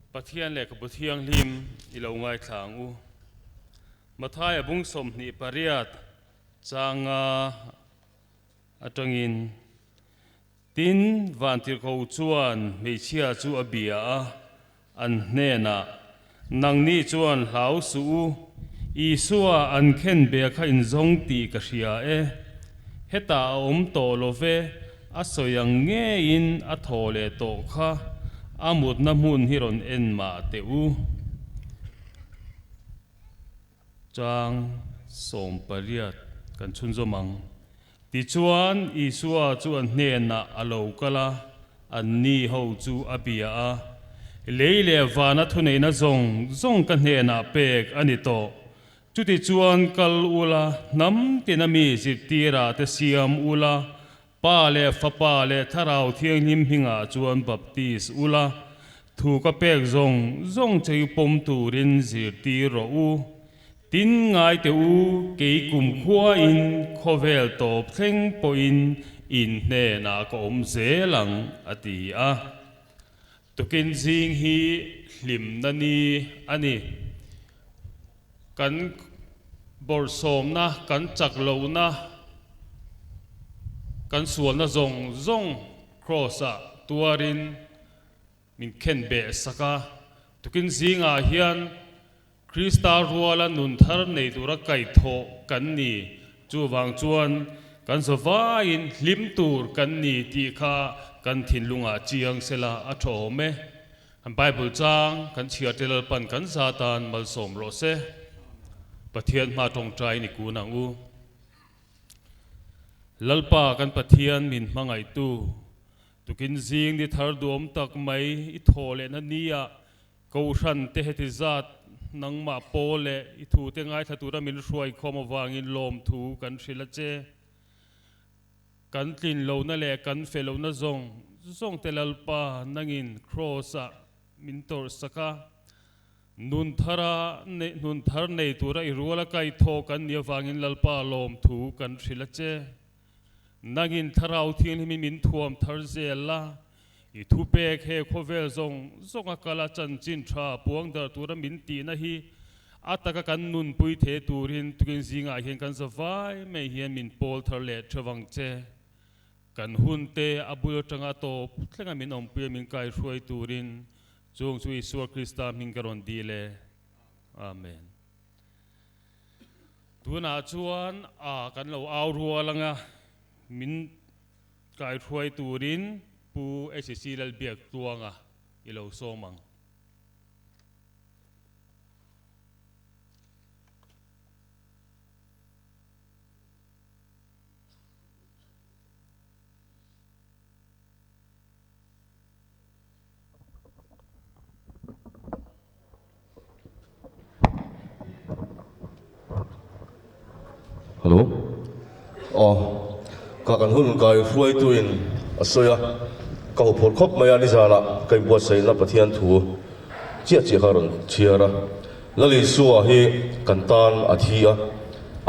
Pathian lehkhabu thianghlim i lo ngaithlang u. Mathaia bung sawmhnih pariat changa atangin Tin, Vantirhko chuan hmeichhia chu a bia a, an hnenah, Nangni chuan hlau suh u, Isua an khen bia kha in zawng tih ka hria e. Heta a awm tawh lo ve, a sawi ang ngeiin a thaw leh tawh kha, a mutna hmun hi rawn en mah teh u. Chang, Sawm pariat kan chhunzawm ang. Tichuan, Isua chu an hnenah a lo kal a, anni ho chu a bia a, Lei leh vana thuneihna zawng zawng ka hnenah pek a ni tawh. Chutichuan kal ula, hnam tina mi zirtirah te siam ula, Pa leh fapa leh Thlarau Thianghlim hningah chuan baptist u la, thu ka pek zawng zawng cheu pawm turin zirtir rawh u. Tin, ngaite u, kei kum khuain khawvel tawp thleng pawhin in hnenah ka awm zel ang, a ti a. Tukin zing hi hlimna ni a ni. Kan bawrhsawmna, kan chak lohna, kan sualna zawng zawng Kraws-ah tuarin min khenbeh sak a. Tukin zingah hian Krista ruala nun thar nei tura kaih thawh kan ni. Chuvang chuan kan zaw vaiin hlim tur kan ni tih kha kan thinlungah chiang sela a tha awm e. Bible chang kan chhiar ṭe lalpan kan za tan malsawm rawh se. Pathian hma ṭawngṭaiin i kun ang u. Lalpa kan Pathian min hmangaihtu, tukin zing ni thar duhawm tak mai i thawh leh na ni ah Kohhran te heti zat nangmah paw leh i thu te ngaithla tura min hruai khawm avangin lawmthu kan hrilh a che. Kan tlin lohna leh kan fe lohna zawng zawng te Lalpa nangin Kraws ah min tawrh sak a, nun thar a nei nun thar nei tura i rual a kaithawh kan nih avangin Lalpa lawmthu kan hrilh a che. Nangin Thlarau thianghlim hi min thuam thar zel la, i thupek he khawvel zawng zawnga kala chanchin tha puang darh tura min tihna hi a taka kan nunpui thei turin tukin zingah hian kan za vai mai hian min pawl thar leh threv ang che. Kan hunte a bul atanga tawp thlengah min awmpui a min kai hruai turin chung chu Isua Krista hming ka rawn dih le. Amen. Tunah chuan a kan lo au rual ang a, min kaihruai turin Pu HC Lalbiak Tluanga i lo sawm ang. Hello aw ka kan hun kai hruaitu in a sawi a ka haw phawrh khawp mai a nizan ah ka inbuatsaih na pathian thu chiah chiah kha a rawn chhiar a. Lalisua hi kan tan a thi a,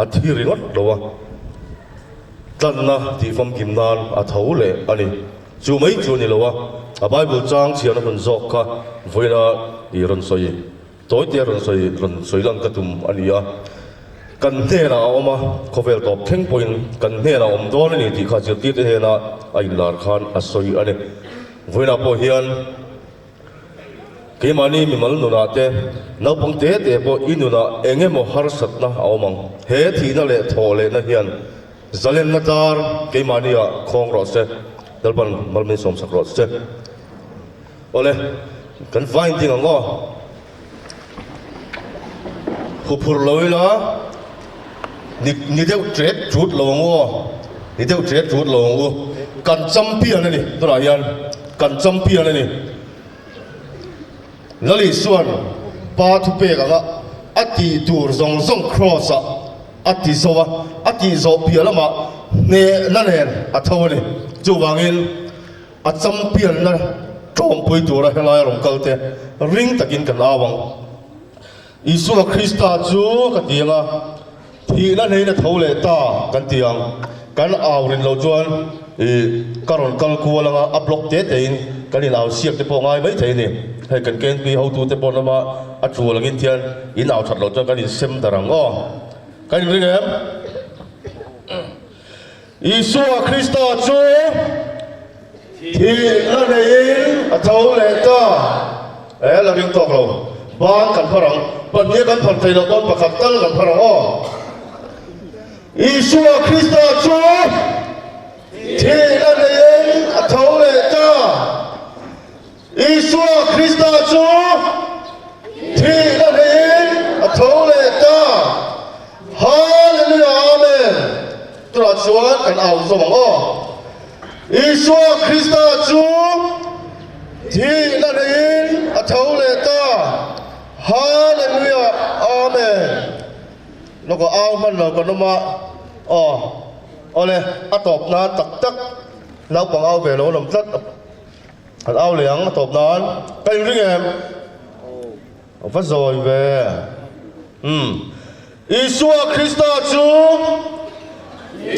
a thi ringawt lo a. Tlanna tih famkim nan a tho leh a ni. Chu mai chu a ni lo a, a Bible chang chhian a hun zawk kha vawiina i rawn sawi tawi te a rawn sawi rawn sawi lang ka tum a ni a. Kan hnenah a awm a, khawvel tawp thleng pawhin kan hnenah a awm dawn a ni tih kha zirtirte hena a inlar khan a sawi a ni. Vawiina pawh hian. Keimahni mimal nunah te, naupang te te pawh i nunah eng emaw harsatna a awm ang. He thihna leh thawh lehna hian zalenna tar keimahni ah khawng rawh se, Lalpan malmin sawmsak rawh se. Awle, kan vain ding ang aw. Khaw phur lo ila, ni ni deuh ṭet ṭut lo ang u aw, ni deuh ṭet ṭut lo ang u. Kan champion a ni tunah hian, kan champion a ni. Lalisuan pa thupek anga a tih tur zawng zawng Cross ah a ti zo a, a tih zawh piah lamah hnehna nen a tho a ni. Chuvangin. A champianna ṭawmpui tura helai rawn kalte ring takin kan au ang. Isua Krista chu ka tiang a, thihna hleina tho leh ta kan ti ang. Kan au rin lo chuan i ka rawn kal kual anga a block te tein kan inau siak te pawh ngai mai thei a ni. Hei kan kenpi hotu te pawh hlama a ṭual angin khian inau ṭhat lo chuan kan insem darh ang aw. Kan inring em? Isua Krista chu thih la neiin a tho leh ta. Eh, la ring tawk lo. Ban kan hman ang. Pahnih kan phan thei loh dawn pakhat tal kan hman ang aw. Isua Krista chu thih la neiin a tho leh ta. Isua Krista chu thih na hlehin a tho leh ta. Hallelujah Amen tunah chuan kan au zawm ang aw. Isua Krista chu thih na hlehin a tho leh ta. Hallelujah Amen lawkah au hman lo kan awm a aw awle a tawp nan tak tak naupang au ve lo nawm tlat a. Kan au leh ang a tawp nan ka in ring em? Aww va zawi ve umm Isua Krista chu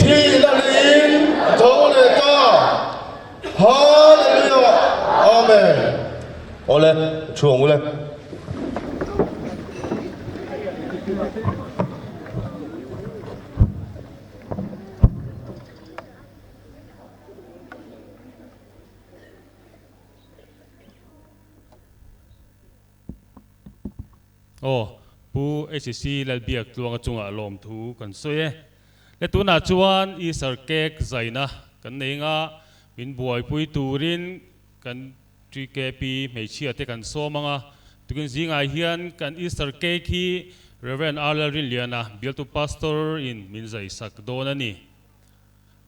thih la leh in a tho leh ta Hallelujah Amen Awle thu ang ule Aw, Pu HC Lalbiak tluanga chungah lawmthu kan sawi e. Heta tunah chuan Easter cake zaina kan nei anga min buaipui turin kan GKP hmeichhia te kan sawm anga, tukin zingah hian kan Easter cake hi Rev. Arlalrinliana, Bialtu Pastor, in min zaisak dawn a ni.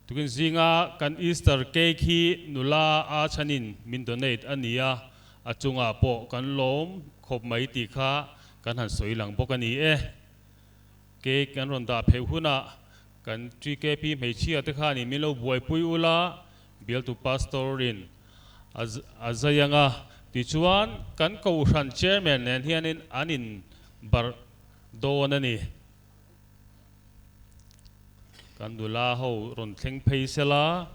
Tukin zinga kan Easter cake hi nula Achan in min donate a ni a, a chungah pawh kan lawm khawp mai tih kha kan han sawi lang bawk a ni e. Cake kan rawn dah pheuh hunah kan GKP hmeichhia te khan in min lo buaipui ul a, Bialtu Pastor in a a zai ang a. Tichuan kan Kohhran Chairman nen hian in an in barh dawn a ni. Kan nula ho rawn thleng phei sela,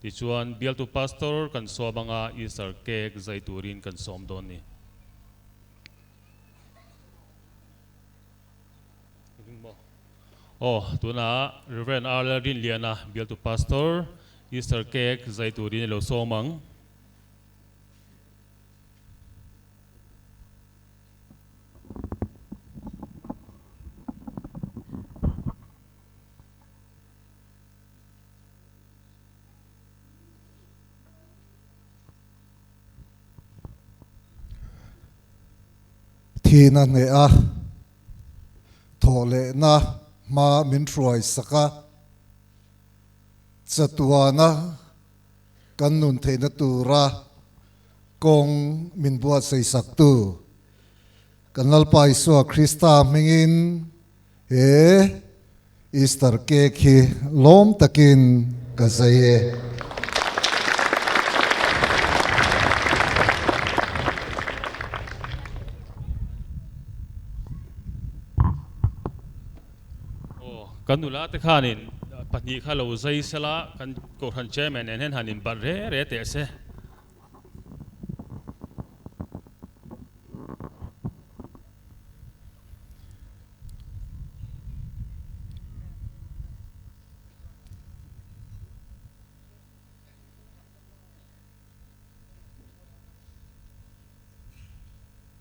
tichuan bialtu pastor kan sawm anga Easter cake zai turin kan sawm dawn ni. Aw, tuna Reverend Arlel Rinliana bialtu pastor Easter cake zai turin i lo sawm ang. Thin a hneh a, thawh lehna hma min hruai sak a, chatuana kan nun theihna tura. Kawng min buatsaisaktu kan Lalpa Isua Krista hmingin he Easter cake hi lawm takin ka zai e. Aw, kan nula te khanin pahnih kha lo zai sel a, kan Kohhran Chairman nen hian han in balh re re teh se.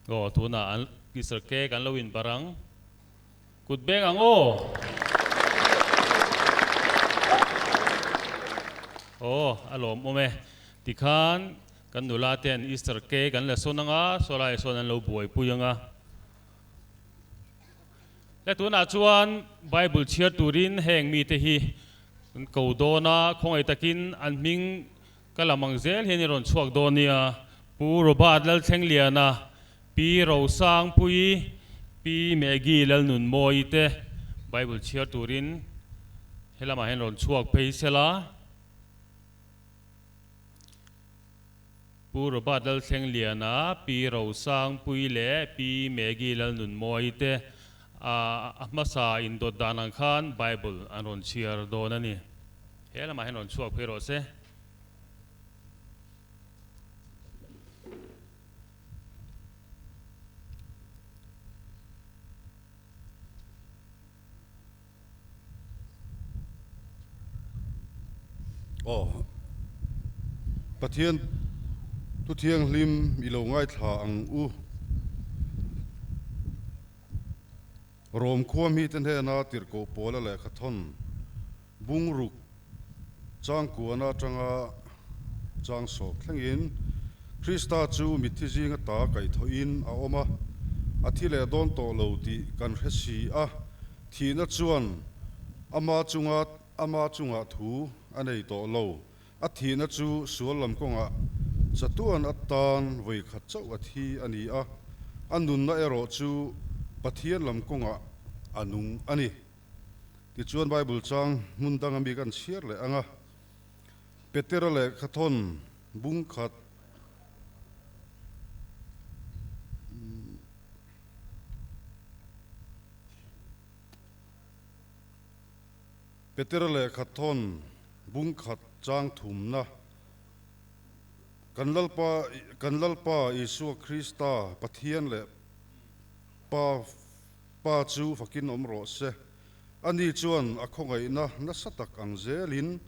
Aw, tunah an Mister Kek an lo in barh ang. Kut beng ang aw. Aw a lawm awm e. Tikhan kan nula te an Easter cake an la sawn ang a, saw lai sawn an lo buai pui ang a. Heta tunah chuan Bible chhiar turin heng mite hi an ko dawn a, khawngaih takin an hming Ka lam ang zel hian i rawn chhuak dawn nia, Pu Robert Lalthlengeliana, Pi Rosangpuii, Pi Maggie Lalnunmawii te Bible chhiar turin he lamah hian rawn chhuak phei sel a, Pu Robert Lalthlengeliana, Pi Rosangpuii leh Pi Maggie Lalnunmawii te a hmasa indawt dan ang khan Bible an rawn chhiar dawn a ni. He lamah hian rawn chhuak phei rawh se. Aw, Pathian Thu Thianghlim i lo ngaithla ang u. Rome khua mi te hnena tirhkoh pawla lehkha thawn bungruk changkuan atanga chang sawp thlengin Krista chu mitthi zinga ta kaihthawhin a awm a, a thi leh dawn tawh lo tih kan hre si a, thihna chuan ama chunga ama chungah thu a nei tawh lo. A thihna chu sual lam kawngah chatuan atan vawikhat chauhat hi a ni a, a nunna erawh chu Pathian lam kawngah a nung a ni. Tichuan Bible chang hmun danga bik a han chhiar leh ang a. Petera lehkha thawn bung khat Peter leh Khathawn bungkhat changthumna. Kan Lalpa, kan Lalpa Isua Krista Pathian leh Pa, Pa chu fakin awm rawh se. Ani chuan a khawngaihna nasa tak ang zelin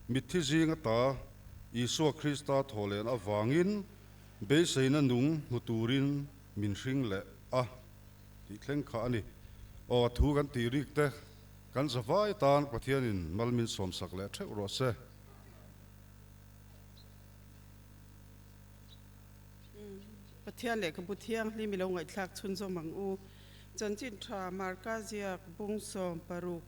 mitthi zinga ta Isua Krista thawhlehna avangin beiseina nung hmu turin min hring leh a tih thleng kha a ni. Aw, thu kan ti rikte. Kan zavai tan Pathianin malmin sawmsak leh theuh rawh se. Pathian leh ka bu thianghlim i lo ngaihthlak chhunzawm ang u. Chanchin tha, Marka ziak, Bung sawm, paruk,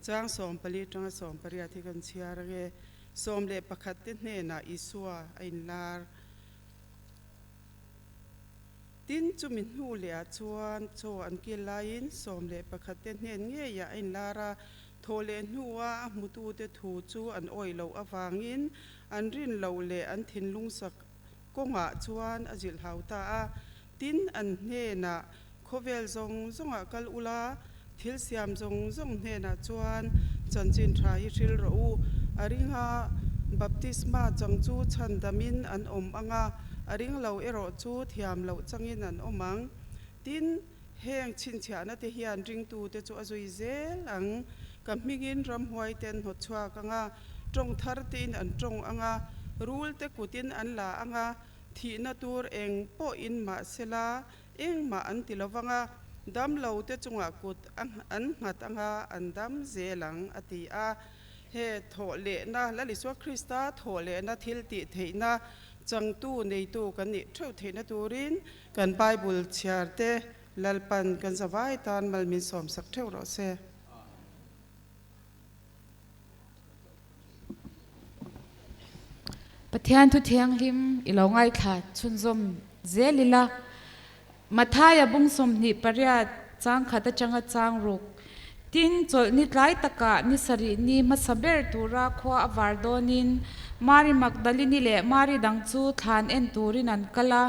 chang sawm pali atanga sawm pariat hi kan chhiar ang e. Sawm leh pakhatte hnenah Isua a inlar. Tin, chumi hnu lehah chuan chaw an kil laiin sawm leh pakhatte hnen ngeiah a inlar a. Thaw leh hnua a hmutute thu chu an awih loh avangin an rin loh leh an thinlung sak kawngah chuan a zilhau ta a. Tin, an hnenah khawvel zawng zawngah kal ula Thil siam zawng zawng hnenah chuan chanchin tha hi hril rawh u. A ring a, Baptisma chang chu chhan damin an awm ang a, a ring lo erawh chu thiam loh changin an awm ang. Tin, heng chhinchhiahna te hian ringtute chu a zui zel ang. Ka hmingin ramhuaite an hnawt chhuak ang a, tawng thar tein an tawng ang a, rulte kutin an la ang a, thihna tur eng pawhin mahsela Engmah an ti lo vang a, damlo te chungah kut an nghat anga an dam zel ang, a ti a. He thawh lehna, Lalisua Krista thawh lehna thiltih theihna changtu neitu kan nih theuh theihna turin, kan Bible chhiar te lalpan kan zavai tan mal min sawmsak theuh rawh se. Pathian thu thianghlim i lo ngaithla chhunzawm zel ila. Mathaia bung sawmhnih pariat changkhat atanga chang ruk. Tin, chawlh ni tlai takah ni sarih ni hmasa ber tura khua a var dawnin Mari Magdalini leh Mari dang chu thlan en turin an kal a,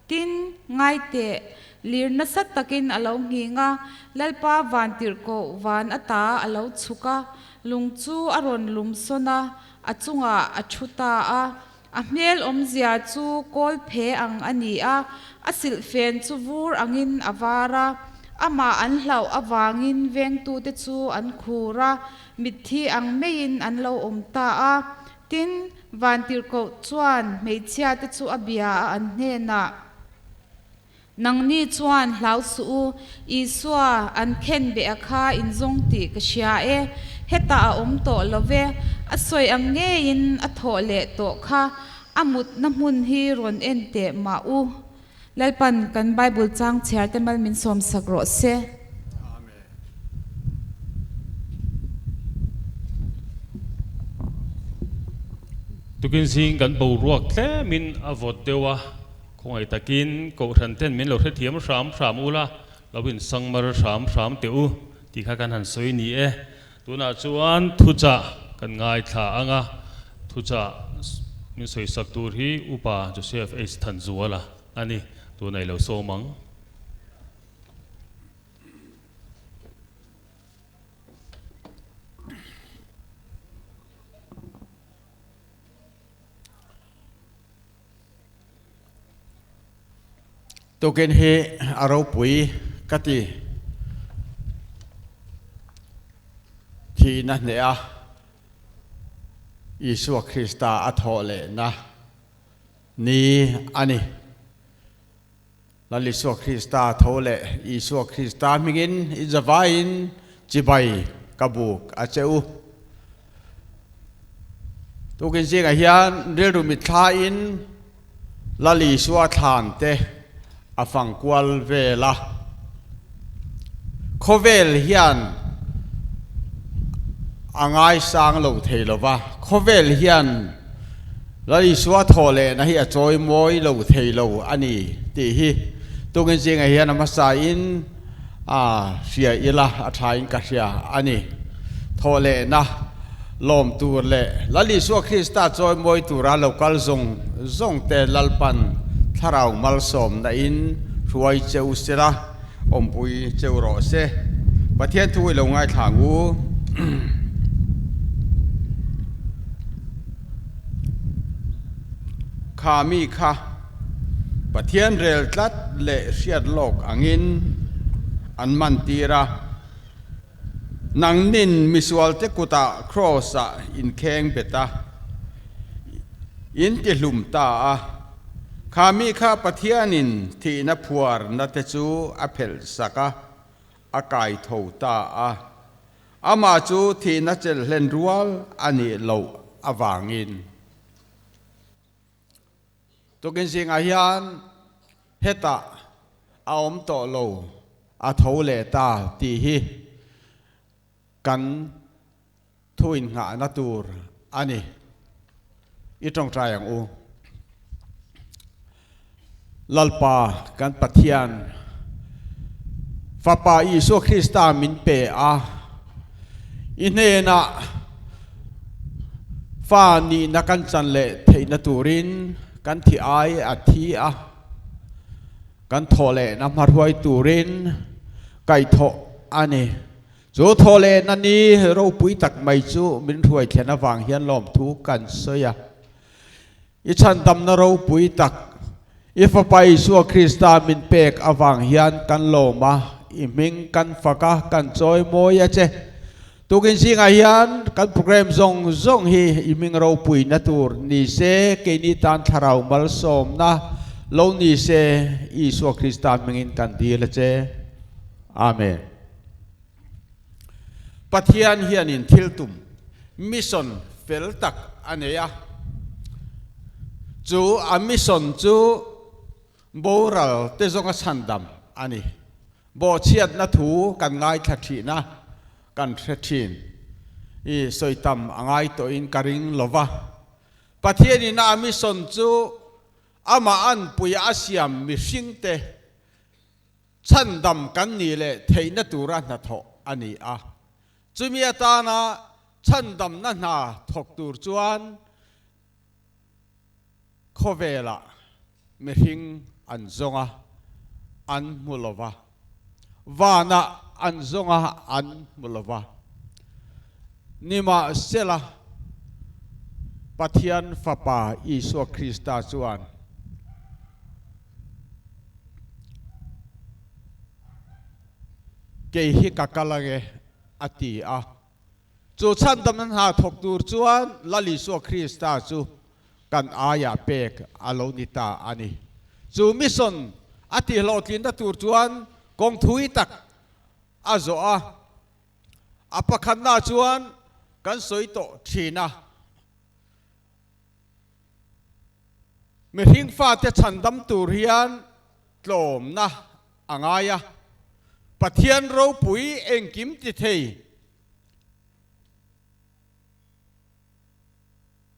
Tin, ngai teh, lir nasa takin a lo nghing a, Lalpa van tirh koh van a ta a lo chhuk a, lung chu a rawn lum sawn a, a chungah a thu ta a. A hmel awmzia chu kawl phe ang a ni a, a silhfen chu vur angin a var a, amah an hlauh avangin vengtute chu an khur a, mitthi ang meiin an lo awm ta a, Tin, Vantirhkoh chuan hmeichhia te chu a bia a an hnenah, Nangni chuan hlau suh u, Isua an khen beha kha in zawng tih ka hria e, hetah a awm tawh lo ve, a sawi ang ngeiin a thawh leh tawh kha, a mutna hmun hi rawn en teh mah u, Lalpan kan Bible chang chhiar te mal min sawm sak rawh se. Tukin zing kan boruak tlem in a vawt deuh a, khawngaih tak in kohhran ten min lo hrethiam hram hram ula, lo in sangmar hram hram teh u tih kha kan han sawi ni e. Tunah chuan thuchah kan ngaithla ang a, thuchah min sawisak tur hi Upa Joseph H. Thanzuala a ni, tun a ilo sawm ang. Tukin hi a ropui ka ti. Thihna hneh a Isua Krista a thawh lehna ni a ni. Lal Isua Krista a tho leh Isua Krista hmingin i zavaiin chibai ka buk a che u. Tukin zingah hian rilru mitthlain Lal Isua thlante a fangkual vel a. Khawvel hian a ngaisang lo thei lo va, khawvel hian Lalisua thawhlehna hi a chawimawi lo thei lo a ni tih hi tungin zingah hian a hmasa in a hria ila a thain ka hria a ni. Thawhlehna, lawm tur leh Lal Isua Krista chawi mawi tura lo kal zawng zawngte Lalpan thlarau malsawmna in hruai che u sela, awmpui che u rawh se. Pathian thu i lo ngaithlang u. Kha mi kha Pathian rel tlat leh hriat lawk angin an man tir a. Nangnin misualte kutah kraws ah in kheng bet a, in tihlum ta a, khami kha Pathian in thihna phuarna te chu a phelh sak a, a kai tho ta a. Amah chu thihna chelhlen rual a nih loh avangin. Tukin zingah hian heta a awm tawh lo a tho leh ta tih hi kan thu innghahna tur a ni. I tawngtai ang u. Lalpa kan Pathian Fapa Isua Krista min pe a. I hnenah Fa nihna kan chanleh theihna turin kan thi ai a thi a, kan thawhlehna hmarhuai turin kaihthawh a ni. Chu thawhlehna ni ropui tak mai chu min hruai thlen avang hian lawmthu kan sawi a. I chhandamna ropui tak i Fapa Isua Krista min pek avang hian kan lawm a, i hming kan fak a, kan chawi mawi a che. Tukin zingah hian kan program zawng zawng hi i hming ropuina tur ni se, keini tan thlarau malsawmna lo ni se, Isua Krista hmingin kan dil a che. Amen. Pathian hianin thil tum, mission, fel tak a nei a. Chu a mission chu boral te zawnga chhan dam a ni. Bawhchhiatna thu kan ngaithla thihna kan hre thin i sawi tam a ngai tawhin ka ring lo va. Pathianin a mission chu amahan puiah a siam mihringte Chhandam kan nih leh theihna tura hnathawh a ni a, chumi atana chhandamna hna thawk tur chuan khawvela mihring an zawnga an hmu lo va, vana an zawnga an hmu lo va. Nimahsela, Pathian Fapa Isua Krista chuan. kei hi ka kal ange a ti a. Chu chhandamna hna thawk tur chuan Lalisua Krista chu kan aiah pek a lo ni ta a ni. Chu mission a tihlawhtlinna tur chuan kawng thui tak a zawh a, a pakhatna chuan kan sawi tawh thin a. Mihring fate chhan dam tur hian tlawmna a ngai a, Pathian ropui engkim tithei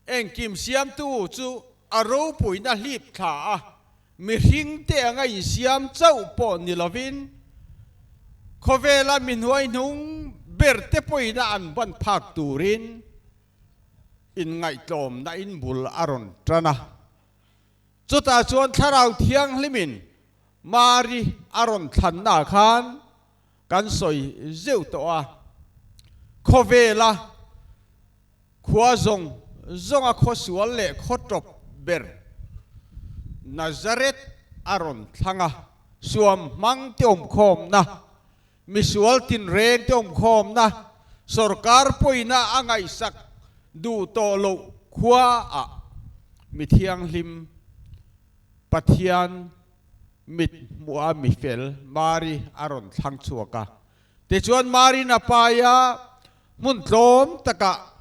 engkim siamtu chu a ropuina hlip thla a, mihringte anga insiam chauh pawh ni lovin khawvela mihnuai hnung berte pawhin a an banphak turin, Inngaihtlawmna in bul a rawn tan a. Chutah chuan Thlarau Thianghlimin Mari a rawn thlanna khan kan sawi zeuh tawh a. Khawvela khua zawng zawnga khawsual leh khawtawp ber Nazareth a rawn thlang a. Suam hmang tiawmkhawmna Misual tinreng te awmkhawmna sorkar pawina a ngaihsak duh tawh loh khua ah Mithianghlim Pathian mit hmuh a mi fel Mari a rawn thlang chhuak a. Tichuan Mari na paia hmun tlawm takah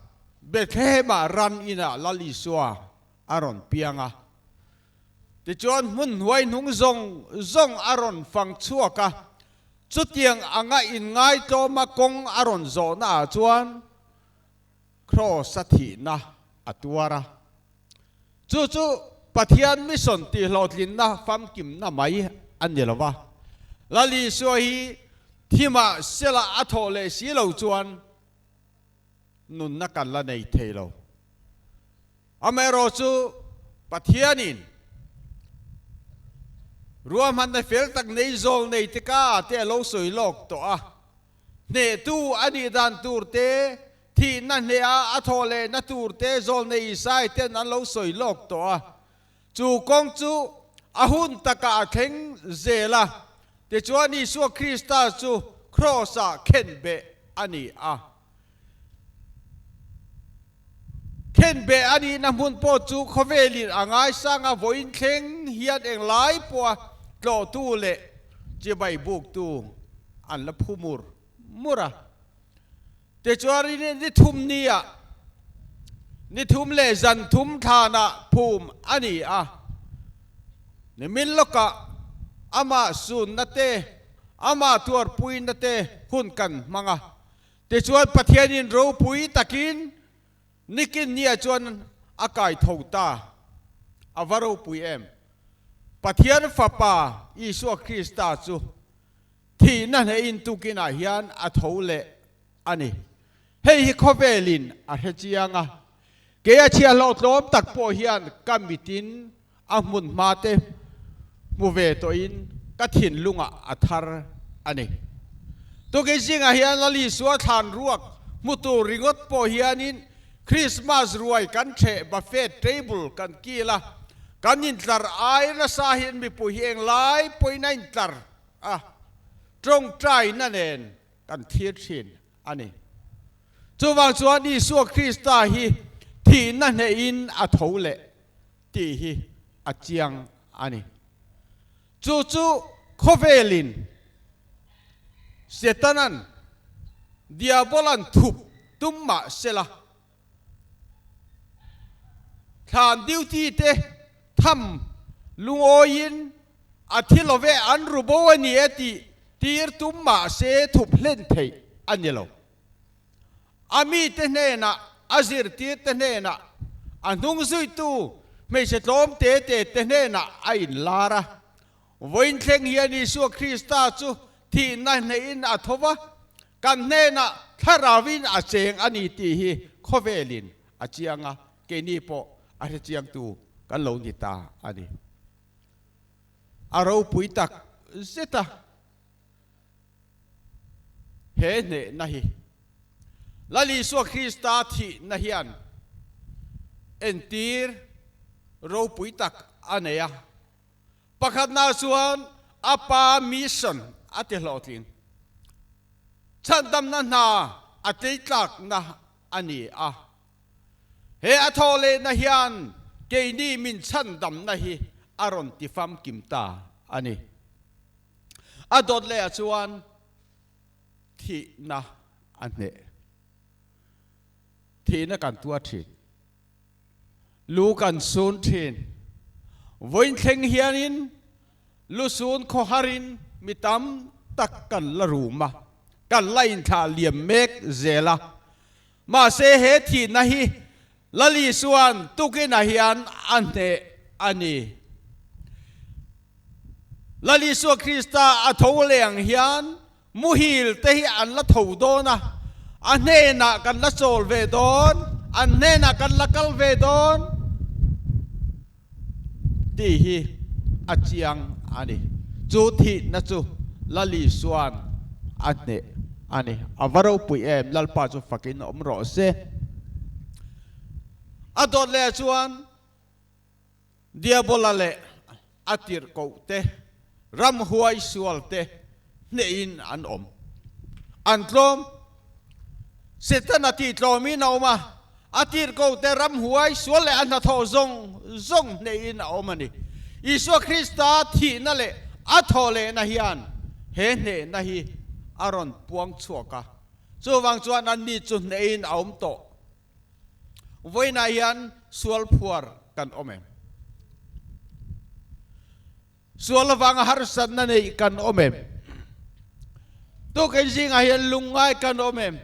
Bethlehem ah ran inah Lal Isua a rawn piang a, tichuan hmunhnuai hnung zawng zawng a rawn fang chhuak a, chutiang anga inngaitawma kawng a rawn zawhnaah chuan Kraws a thihna a tuar a. Chu chu Pathian mission tihhlawhtlinna famkimna mai a ni lo va, Lalisua hi thimah sela a thawh leh si lo chuan, nunna kan la nei thei lo. Amaherawh chu Pathianin ruahmanna fel tak nei zawl nei te ka ah te a lo sawi lawk tawh a, hnehtu a nih dan tur te, thihna hneha a thaw leh na tur te zawl nei Isai ten an lo sawi lawk tawh a. Chu kawng chu a hun takah a thleng zel a, tichuan Isua Krista chu Kraws-ah khenbeh a ni a. Khenbeh a nihna hmun pawh chu khawvelin a ngaisang a, vawiin thleng hian englai pawha tlawhtu leh chibai buktu an la phu mur mur a. Tichuan ni thum ni ah ni thum leh zan thum thlan ah phum a ni a, nimin lawk ah amah sunna te amah tuarpuina te hun kan hmang a, tichuan Pathian in ropui takin nikin ni ah chuan a kai tho ta, a va ropui em? Pathian Fapa Isua Krista chu thihna hneh in tukin ah hian a tho leh a ni. Hei hi khawvel in a hre chiang a, kei a chhiah hlawh tlawm tak pawh hian ka mit in a hmun hma te hmu ve tawh in ka thinlung ah a thar a ni. Tukin zing ah hian Lali sual thlan ruak hmu tur ringawt pawh hian in Christmas ruai kan chheh buffet table kan kil a, kan in tlar ai nasa hian mipuihi eng lai pawhin a in tlar a tawngtaina nen kan thlir thin a ni. Chuvang chuan Isua Krista hi thihna hnehin a tho le tih hi a chiang a ni. Chu chu khawvelin Setana'n, Diabolan thup tum mah sela Thlan duty te tham lungawiin a thi loveh an ru bo a ni a tih tir tum mah se thup hlen theih a ni lo. A mite hnenah, a zirtirte hnenah, a hnung zuitu hmeichhe tlawm te te te hnenah a inlar a. Vawiin thleng hian Isua Krista chu thihna hnehin a tho va, Kan hnenah thlarau in a cheng a ni tih hi khawvel in a chiang a, keini pawh a hrechiang tu kan lo ni ta a ni. A ropui tak zet a he hnehna hi. Lalisua Krista thihna hian entir ropui tak a nei a, Pakhatnaah chuan a pa mission a ti hlawhtling chhandamna hna a tleitlakna a ni a, he a thaw lehna hian keini min chhandamna hi a rawn ti famkim ta a ni. A dawt leh ah chuan thihna a hneh, thihna kan tuar thin. Lu kan sun thin. Vawiin thleng hianin lu sun khaw harin mi tam tak kan la rum a, kan la inthlah liam mek zel a. Mahse he thihna hi Lali chuan tukinah hian a hneh a ni. Lali chuan Krista a tholeng hian Muhil te hi an la tho dawn a, a hnenah kan la chawl ve dawn, an hnenah kan la kal ve dawn tih hi a chiang a ni. Chu thihna chu Lali chuan a hneh a ni. A va ropuih em, Lalpa chu fakin awm rawh se. A dawt leh chuan. Diabola leh a tirhkohte, ram huai sualte hnehin an awm. An tlawm. Setana tihtlawmin a awm a, a tirhkohte, ram huai sual leh a hnathawh zawng zawng hnehin a awm a ni. Isua Krista thihna leh a thawhlehna hian he hnehna hi a rawn puang chhuak a, chuvang chuan anni chu hnehin a awm tawh vawiinah hian sual phuar kan awm em? Sual avanga harsatna neih kan awm em? Tukin zingah hian lungngai kan awm em?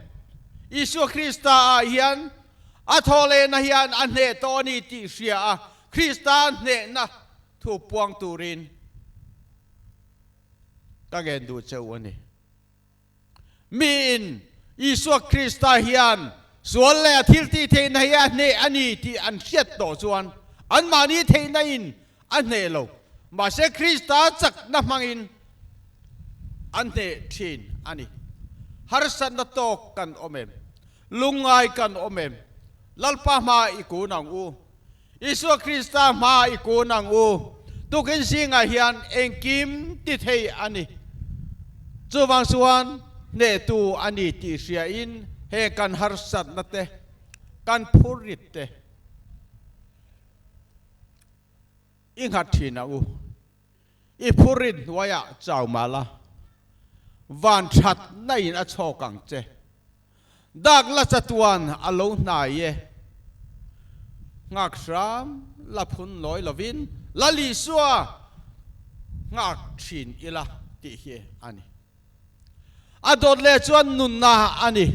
Isua Krista ah hian a thawhlena hian a hneh tawh a ni tih hria a, Krista hnehna thu puang turin ka ngen duh che u a ni. Mi in Isua Krista hian sual leh a thiltih theihna hi a hneh a ni tih an hriat tawh chuan anmahni theihna in a hneh lo. Mahse Krista chakna hmangin a hneh thin a ni. Harsatna tawk kan awm em? Lungngai kan awm em? Lalpa hma i kun ang u. Isua Krista hmaa i kun ang u. Tukin zingah hian engkim ti thei a ni. Chuvang chuan hnehtu a ni tih hriain heng kan harsatna te, kan phurrit te i nghat thin ang u. i phu rin hnuai ah chau mal a, van that na in a chhawk ang che. Dak la chatuan a lo hnai e. Ngakhrâm la phun lawi lo in la lihsua nghak thin ila tih hi a ni. A dawt leh chuan nunna a ni.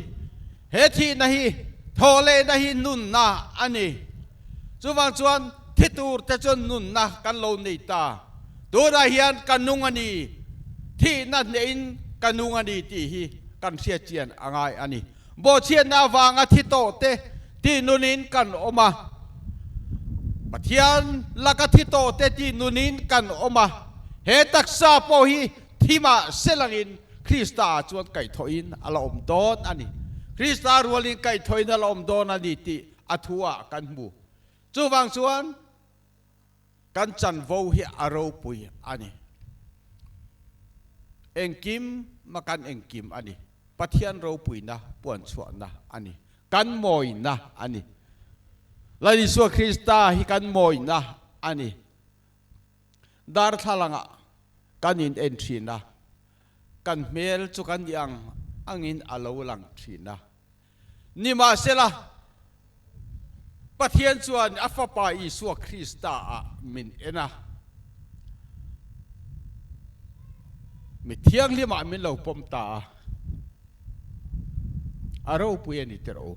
He thihna hi thawh lehna hi nunna a ni. Chuvang chuan thi tur te chuan nunna kan lo nei ta. Tunah hian ka nung a ni, thihna hnehin ka nung a ni tih hi kan hriatchian a ngai a ni. Bawhchhiatna avanga thi tawh te tih nun in kan awm a. Pathian laka thi tawh te tih nun in kan awm a. He taksa pawh hi Thim ah sel ang in Krista ah chuan kaih thawh in a la awm dawn a ni. Krista rual in kaih thawh in a la awm dawn a ni tih a thu ah kan hmu. Chu vang chuan kan chanvo hi a ropui a ni. Engkim ma kan engkim a ni. Pathian ropuina, puanchhuahna a ni. Kan mawina a ni. Lallisua Krista hi kan mawina a ni. Darthlangah kan in en thin a, kan hmel chu kan i ang angin a lo lang thin a. Nimahsela, Pathian chuan a Fapa Isua Krista ah min en a, mi thianghlim ah min lo pawm ta a, a ropui a ni tirh u.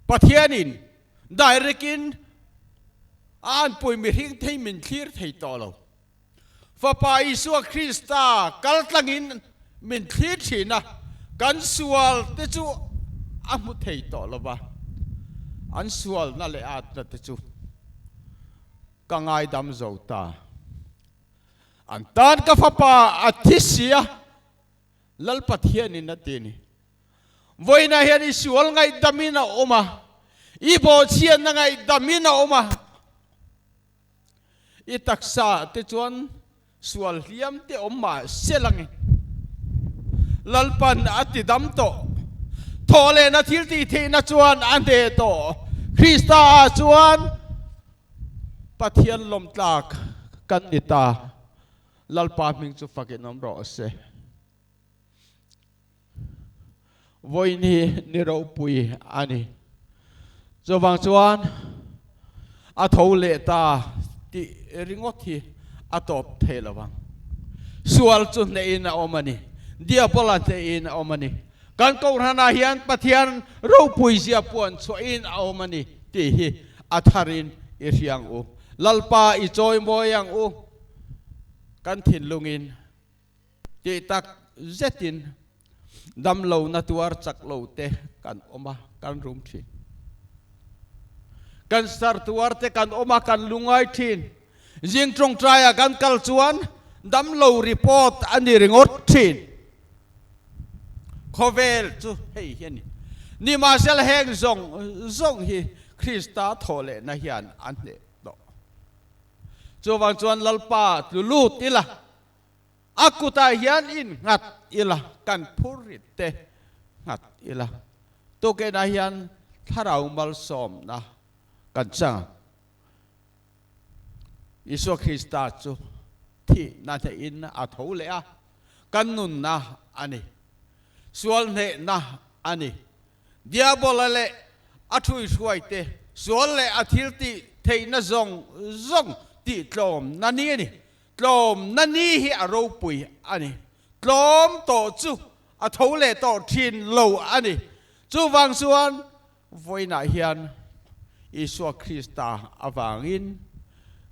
Pathian in direct in a an pawi mihring thei min thlir thei tawh lo. Fapa Isua Krista kaltlang in min thlir thin a, kan sual te chu a hmu thei tawh lo va, an sualna leh atna te chu ka ngaidam zo ta. An tan ka fapa a thi sia Lalpat hianin a ti a ni. Vawiinah hian i sual ngaihdamin a awm a, i bawhchhiatna ngaihdamin a awm a. I taksa te chuan sual hliam te awm mah se langin Lalpan a tidam tawh. Thawhlehna thiltih theihna chuan a hneh tawh. Krista ah chuan Pathian lawmtlak kan ni ta. Lalpa hming chu fakin awm rawh a se. Vawiin hi ni ropui a ni. Chuvang chuan a tho leh ta tih ringawt hi a tawp thei lo vang. Sual chu hnehin a awm a ni. Diabola hnehin a awm a ni. Kan kohhranah hian Pathian ropui zia pawh an chhuahin a awm a ni tih hi a tharin i hriang u. Lalpa i chawi mawi ang u. kan thinlungin tih tak zetin damlona tuar chak lo te kan awm a, kan rum thin. Kan sar tuar te kan awm a, kan lungai thin. Zing tawngtaia kan kal chuan damlo report a ni ringawt thin. Khawvel chu hei hi a ni. Nimahsela heng zawng zawng hi Krista thawhlehna hian an hneh tawh. Chuvang chuan Lalpa tlu lut ila, a kutah hian in nghat ila, kan phur rit te nghat ila, tukenah hian thlarau malsawmna kan chang a. Isua Krista chu thihna hnehin a tho leh a, kan nunna a ni, sual hnehna a ni. Diabola leh a thluihruaite sual leh a thilti theihna zawng zawng tihtlawmna ni a ni. Tlawmna ni hi a ropui a ni. Tlawm tawh chu a tho leh tawh thin lo a ni. Chuvang chuan vawiinah hian Isua Krista avangin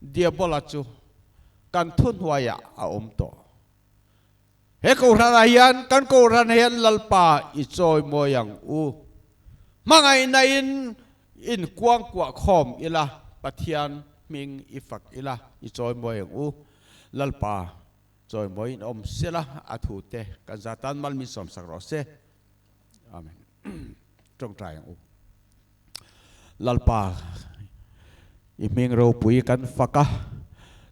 Diabola chu kan thuhnuaiah a awm tawh. He kohhranah hian kan kohhran hian Lalpa i chawimawi ang u. Hmangaihna in in kuang kuah khawm ila, Pathian hming i fak ila i chawimawi ang u. Lalpa chawimawi in awm sela a thu te kan za tan malmin sawmsak rawh se. Amen. Tawngtai ang u. Lalpa i hming ropui kan fak a,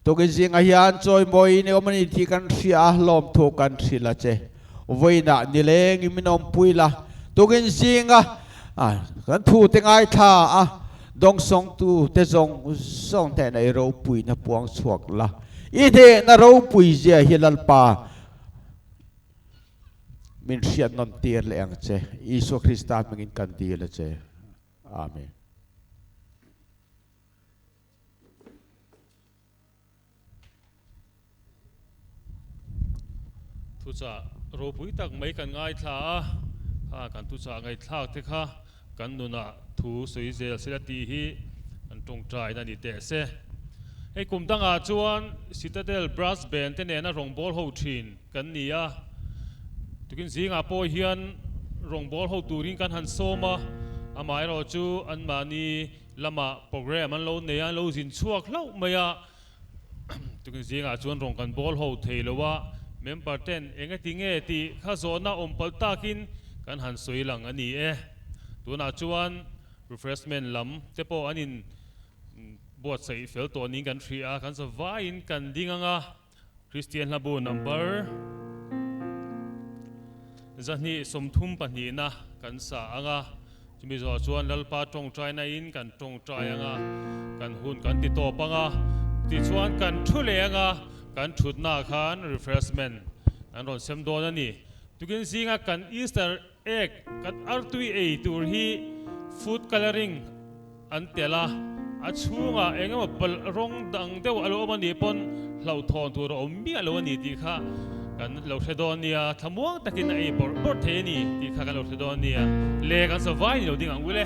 tukin zingah hian chawimawiin i awm a ni tih kan hria a, lawmthu kan hrilh a che. Vawiinah nilengin min awmpui la, tukin zinga kan thute ngaithla a, dawngsawngtute zawng zawng hnena i ropuina puang chhuak la. I hnehna ropui zia hi Lalpa. min hriatnawm tir leh ang che. Isua Krista hmingin kan dil a che. Amen. Thuchah ropui tak mai kan ngaithla a, kha kan thuchah ngaithlak te kha. Kan nunah thu sawi zel sela tih hi kan tawngtahin a ni teh se. Hei kum dangah chuan Citadel Brass Band te nena rawngbâwl ho ṭhin kan ni a, tukin zingah pawh hian rawngbâwl ho turin kan han sawm a, amaherawhchu anmahni lamah programme an lo nei a, an lo zin chhuak hlauh mai a. Chutah zingah chuan rawn kan bawl ho thei lo a, member ten enge ti nge tih kha zawhna awm palh takin kan han sawi lang a ni e. Tunah chuan refreshment lam te pawh an in buatsaih fel tawh niin kan hria, kan zavaiin kan ding ang a. Kristian hlabu number zahnih sawmthum pahnihna kan sa ang a, chumi zawh chuan Lalpa tawngtaina in kan tawngtai ang a, kan hun kan ti tawp ang a, tichuan kan thu leh ang a, kan thutnaah khan refreshment an rawn sem dawn a ni. Tukin zinga kan Easter. Ek, Kan artui ei tur hi food colouring an tel a, a chhunga engemaw palh rawng dang deuh a lo awm a nih pawn hlauhthawn tur a awm miah lo a ni tih kha kan lo hre dawn nia, thlamuang takin a ei bawrh bawrh thei a ni tih kha kan lo hre dawn nia, leh kan sa vai ni lo ding ang ulh e.